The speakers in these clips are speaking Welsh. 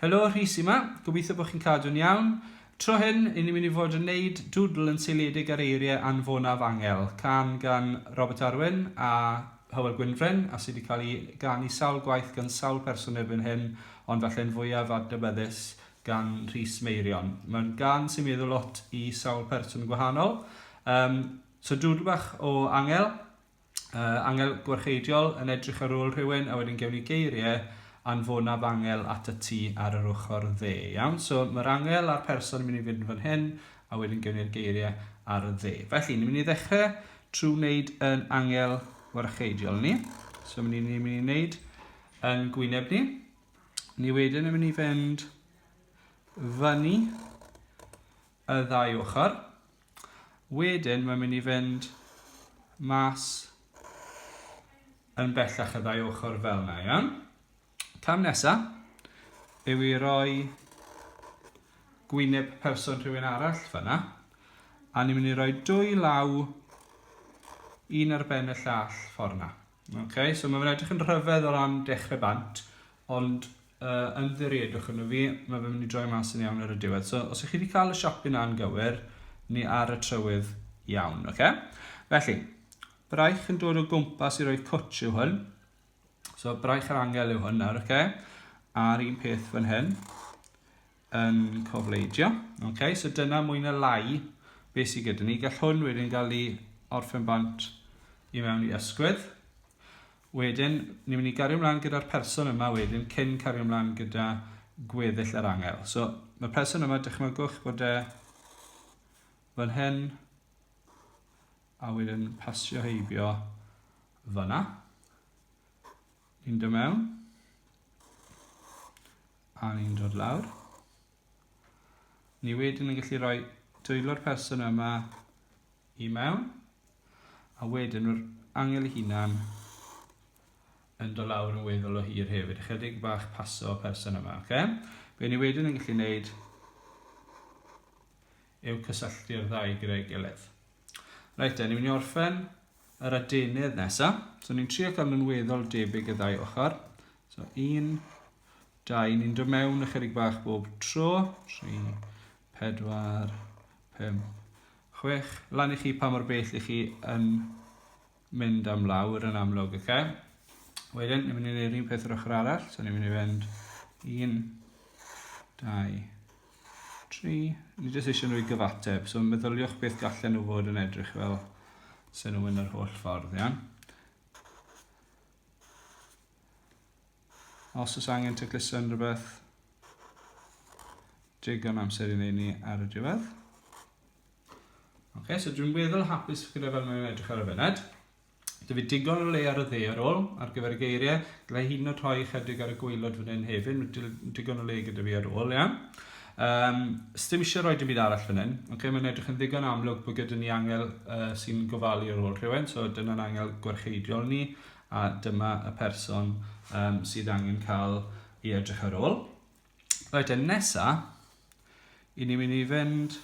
Helo, Rhys yma. Gobeithio bod chi'n cadw'n iawn. Tro hyn, i ni'n mynd i fod yn neud dwdl yn seiliedig ar eiriau anfonaf angel, can gan Robert Arwyn a Hywel Gwynfryn, a sydd wedi cael ei ganu sawl gwaith gan sawl person erbyn hyn, ond falle'n fwyaf adnabyddus gan Rhys Meirion. Mae'n gan sy'n meddwl lot i sawl person gwahanol. Um, so dwdl bach o angel. uh, angel gwarcheidiol yn edrych ar ôl rhywun a wedyn gewn ni geiriau anfonaf angel at y tŷ ar yr ochr dde. Iawn, so mae'r angel a'r person yn mynd i fynd fan hyn a wedyn gewn ni'r geiriau ar y dde. Felly, ni'n mynd i ddechrau trwy wneud yn angel warcheidiol ni. So ni'n mynd i wneud yn gwyneb ni. Ni wedyn yn mynd i fynd fyny y ddau ochr. Wedyn mae'n mynd i fynd mas yn bellach y ddau ochr fel yna, iawn? Cam nesa yw i roi gwyneb person rhywun arall fyna, a ni'n mynd i roi dwy law un ar ben y llall ffordd yna. Ok, so mae fe'n edrych yn rhyfedd o ran dechrau bant, ond uh, ymddiriedwch yn y fi, mae fe'n mynd i droi mas yn iawn ar y diwedd. So, os ych chi wedi cael y siopyn na'n gywir, ni ar y trywydd iawn, ok? Felly, braich yn dod o gwmpas i roi cwtch yw hwn. So, braich yr angel yw hwn nawr, ok? A'r un peth fan hyn. yn cofleidio. Okay, so dyna mwy na lai beth sydd gyda ni. Gall hwn wedyn gael ei orffen bant i mewn i ysgwydd. Wedyn, ni'n mynd i gario ymlaen gyda'r person yma wedyn cyn cario ymlaen gyda gweddill yr angel. So, mae'r person yma, dychmygwch bod e fan hyn, a wedyn pasio heibio fyna. Ni'n dod mewn. A ni'n dod lawr. Ni wedyn yn gallu rhoi dwylo'r person yma i mewn. A wedyn mae'r angel i hunan yn dod lawr yn weddol o hir hefyd. Ychydig bach paso y person yma, oce? Okay? Be ni wedyn yn gallu wneud yw cysylltu'r ddau gyda'i gilydd. Reit de, ni'n mynd i orffen yr adenydd nesaf. So ni'n trio cael nhw'n weddol debyg y ddau ochr. So un, dau, ni'n dod mewn ychydig bach bob tro. Tri, pedwar, pum, chwech. Lan i chi pa mor bell i chi yn mynd am lawr yn amlwg, oce? Okay? Wedyn, ni'n mynd i wneud un peth yr ochr arall, so ni'n mynd i fynd 1, 2, 3. Ni jyst eisiau nhw i gyfateb, so meddyliwch beth gallen nhw fod yn edrych fel sy'n nhw'n yr holl ffordd, iawn? Os oes angen tecluso yn rhywbeth, digon amser i wneud ni ar y diwedd. Okay, so dwi'n weddol hapus gyda fel mae'n edrych ar y fyned. Dwi fi digon o le ar y dde ar ôl ar gyfer y geiriau. Gallai hyn o rhoi chydig ar y gweilod fan hyn hefyd. Mae digon o le gyda fi ar ôl, iawn. Um, Stim eisiau rhoi dim byd arall fan hyn. Okay, mae'n edrych yn ddigon amlwg bod gyda ni angel uh, sy'n gofalu ar ôl rhywun. So dyna'n angel gwarcheidiol ni a dyma y person um, sydd angen cael i edrych ar ôl. Reit te, nesa, i ni'n mynd i fynd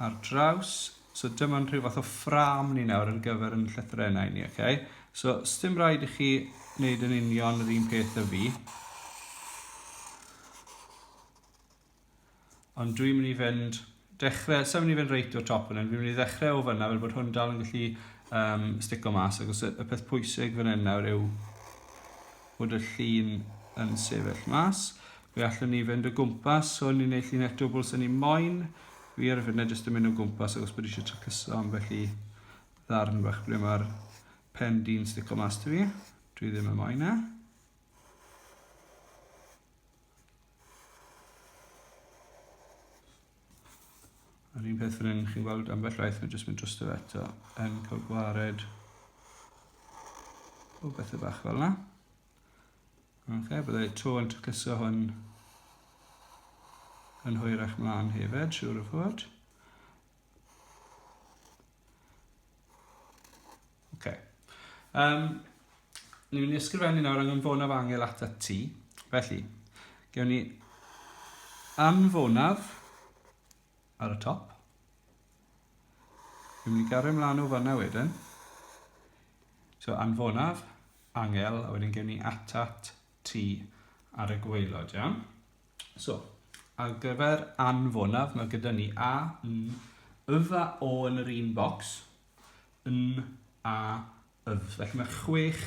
ar draws. So dyma'n rhyw fath o ffram ni nawr yn gyfer yn llythrenau ni, okay? So, sdim rhaid i chi wneud yn union yr un peth y fi. Ond dwi'n mynd i fynd dechrau, sa'n mynd i fynd reit o'r top fan hyn, fi'n mynd i ddechrau o fyna fel bod hwn dal yn gallu um, stico mas, ac os y, y peth pwysig fan hyn nawr yw bod y llun yn sefyll mas. Fe allwn ni fynd o gwmpas, so ni'n gwneud llun eto bwls yn ni moyn. Fi ar y funud jyst yn mynd o gwmpas ac os bod eisiau tracluso am felly ddarn bach ble mae'r pen di'n stico mas ti fi. Dwi ddim yn moyn e. Yr un peth fan hyn, chi'n gweld ambell waith, mae'n jyst mynd dros y eto, yn cael gwared o bethau bach fel yna. Ok, byddai to yn trycyso hwn yn hwyrach mlaen hefyd, siwr o fod. Okay. Um, ni'n mynd i ysgrifennu nawr anfonaf angel at y ti. Felly, gewn ni anfonaf ar y top. Ni'n mynd i gario ymlaen o fanna wedyn. So anfonaf, angel, a wedyn gewn ni atat ti ar y gweilod, iawn? So, ar gyfer anfonaf, mae gyda ni A, N, Yf a O yn yr un bocs, N, A, Yf. Felly mae chwech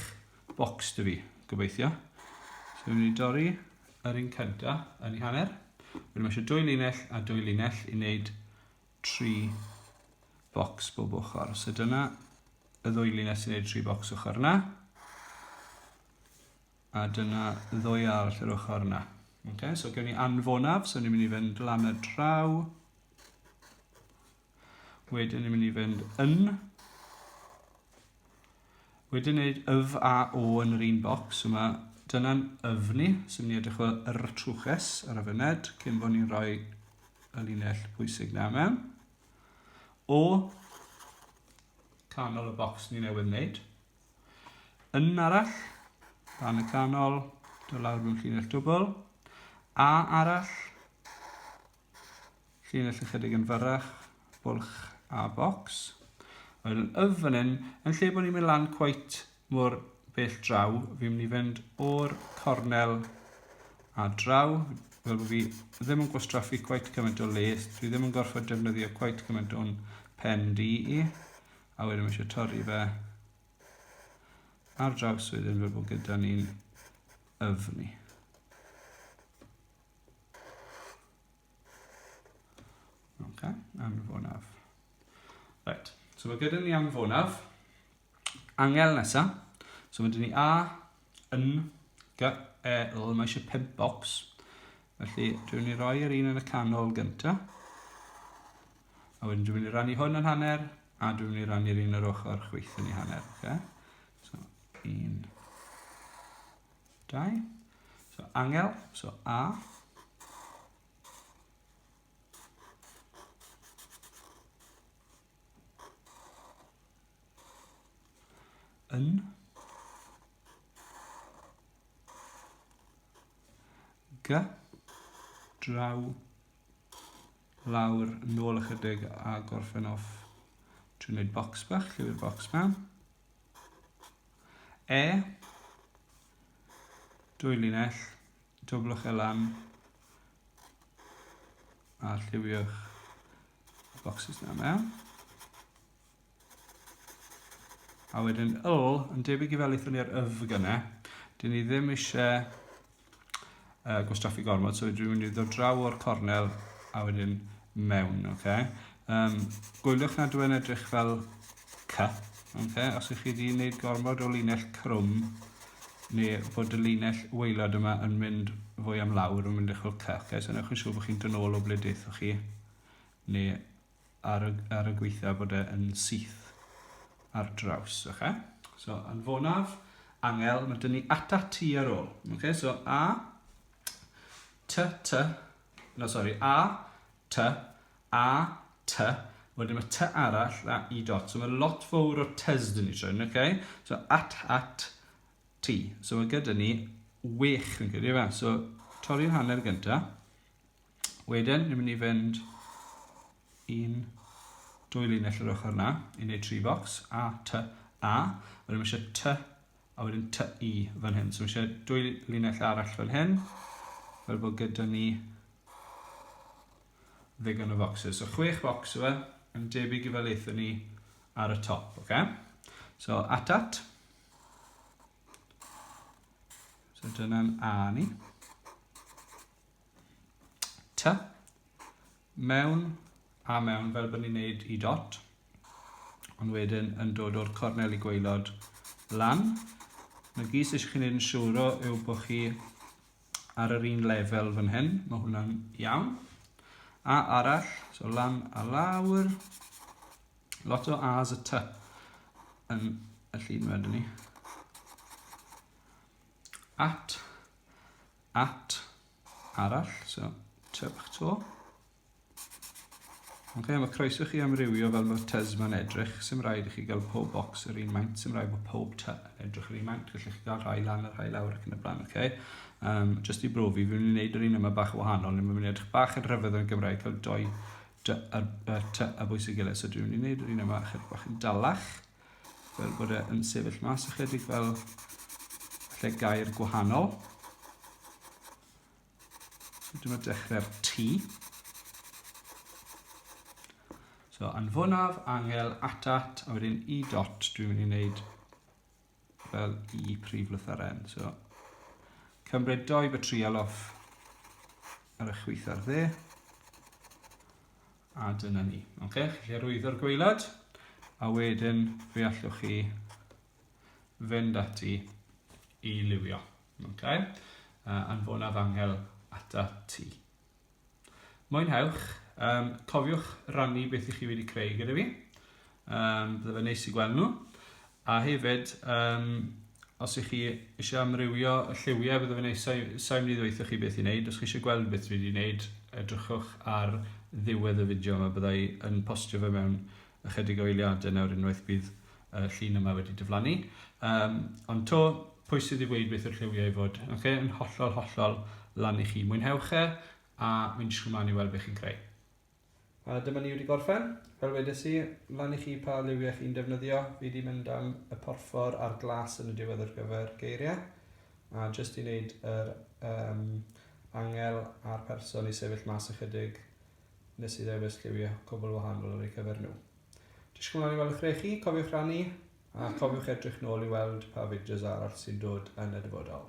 bocs dy fi, gobeithio. So, ni'n mynd i dorri yr un cynta yn ei hanner. Wedyn mae eisiau dwy linell a dwy linell i wneud tri bocs bob ochr. So dyna y ddwy linell sy'n gwneud tri bocs ochr yna. A dyna ddwy arall yr ochr yna. Okay, so gen i anfonaf, so ni'n mynd i fynd lan y draw. Wedyn ni'n mynd i fynd yn. Wedyn neud yf a o yn yr un bocs yma. Dyna'n yf ni, so ni'n edrych o yr trwches ar y fyned, cyn bod ni'n rhoi y linell pwysig na mewn. O canol y bocs ni newydd wneud. Yn arall, fan y canol, do lawr mewn llinell dwbl. A arall, llinell ychydig yn fyrrach, bwlch a bocs. Wedyn yf fan hyn, yn lle bod ni'n mynd lan cweit mor bell draw, fi'n mynd i fynd o'r cornel a draw, fel bod fi ddim yn gwastraffu cweit cymaint o les, dwi ddim yn gorfod defnyddio cweit cymaint o'n pen di i. A wedyn mae eisiau torri fe ar draws wedyn fel bod gyda ni'n yfni. Okay, anfonaf. Right, so mae gyda ni anfonaf. Angel nesa. So mae dyn ni A, yn, G, E, L. Mae eisiau pimp box. Felly, dwi'n ni roi yr un yn y canol gyntaf. A wedyn dwi'n mynd i rannu hwn yn hanner, a dwi'n mynd i rannu'r un yr ochr chwyth yn ei hanner. Okay? So, un, dau. So, angel, so A. Yn. G. Draw. lawr, nôl ychydig a gorffen off trwy wneud bocs bach, llyfr bocs ma. E, dwy linell, doblwch e lan a lliwiwch y bocsys na mewn. A wedyn yl, yn debyg i fel eithon ni ar yf gyna, dyn ni ddim eisiau uh, gwastraffu gormod, so dwi'n mynd i ddod draw o'r cornel a wedyn mewn, oce? Okay? Um, gwyliwch nad yw'n edrych fel cy, okay? os ych chi wedi gwneud gormod o linell crwm, neu bod y linell weilod yma yn mynd fwy am lawr, yn mynd eich o cy, okay? so newch yn siŵr bod chi'n dynol o ble deithoch chi, neu ar y, ar y gweitha bod e yn syth ar draws, oce? Okay? So, anfonaf, angel, mae dyn ni ata ti ar ôl. Oce, okay? so a, t, t, no, sorry, a, t, a, t, wedyn mae t arall a i dot. So mae lot fawr o tys dyn ni trwy, oce? Okay? So at, at, ti. So mae gyda ni wech, fi'n credu, fe. So, torri'r hanner gyntaf. Wedyn, ni'n mynd i fynd i'n dwy linell yr ochr yna, i wneud tri bocs, A, T, A. Wedyn mae eisiau T, a wedyn T, I fan hyn. So mae eisiau dwy linell arall fan hyn, fel bod gyda ni ddigon o focsys. So chwech bocs yw e, yn debyg i fel eithon ni ar y top, oce? Okay? So, atat. So dyna'n A ni. T. Mewn a mewn fel bod ni'n neud i dot. Ond wedyn yn dod o'r cornel i gweilod lan. Mae gys eisiau chi'n neud yn siwro yw bod chi ar yr un lefel fan hyn. Mae hwnna'n iawn. A arall, so lan a lawr. Lot o A's a T yn y llun wedyn ni. At at arall, so tŷ bach to. Ok, mae croeso chi amrywio fel mae'r tŷs ma'n edrych, sy'n rhaid i chi gael pob box yr un maint, sy'n rhaid bod pob tŷ yn edrych yr un maint, felly chi gael rhai lan a rhai lawr ac yn y blaen, ok? Um, just i brofi, fi'n mynd i wneud yr un yma bach wahanol, ni'n mynd i edrych bach yn rhyfedd yn Gymraeg, cael doi tŷ a bwys y gilydd, so dwi'n mynd i wneud yr un yma chydig bach yn dalach, fel bod e yn sefyll mas ychydig fel lle gair gwahanol. So dyma dechrau'r T. So anfonaf angel atat a wedyn i dot dwi'n mynd i wneud fel i prif lytharen. So cymryd doi bytrial off ar y chwith ar dde. A dyna ni. Oce, chi'n gallu arwyddo'r gweilad, a wedyn fe allwch chi fynd ati i liwio. Oce, uh, anfonaf angel ata ti. Mwynhewch, um, cofiwch rannu beth i chi wedi creu gyda fi. Um, bydde fe neis i gweld nhw. A hefyd, um, os ych chi eisiau amrywio y lliwiau, bydde fe neis, sa'n mynd i ddweud chi beth i wneud. Os chi eisiau gweld beth dwi wedi wneud, edrychwch ar ddiwedd y fideo yma. Byddai yn postio fe mewn ychydig o eiliadau nawr unwaith bydd y llun yma wedi diflannu. Um, ond to, pwy sydd wedi gweud beth yw'r lliwiau i fod? Okay, yn hollol, hollol lan i chi. Mwynhewch e, a mi'n disgwyl mlaen i weld beth chi'n creu. A dyma ni wedi gorffen. Fel wedes i, lan i chi pa liwiau chi'n defnyddio. Fi wedi mynd am y porffor a'r glas yn y diwedd ar gyfer geiriau. A jyst i wneud yr um, angel a'r person i sefyll mas ychydig, nes i ddewis lliwiau cwbl wahanol ar eu cyfer nhw. Disgwyl ymlaen i weld eich rei chi, cofiwch rannu, a cofiwch edrych nôl i weld pa fideos arall sy'n dod yn y dyfodol.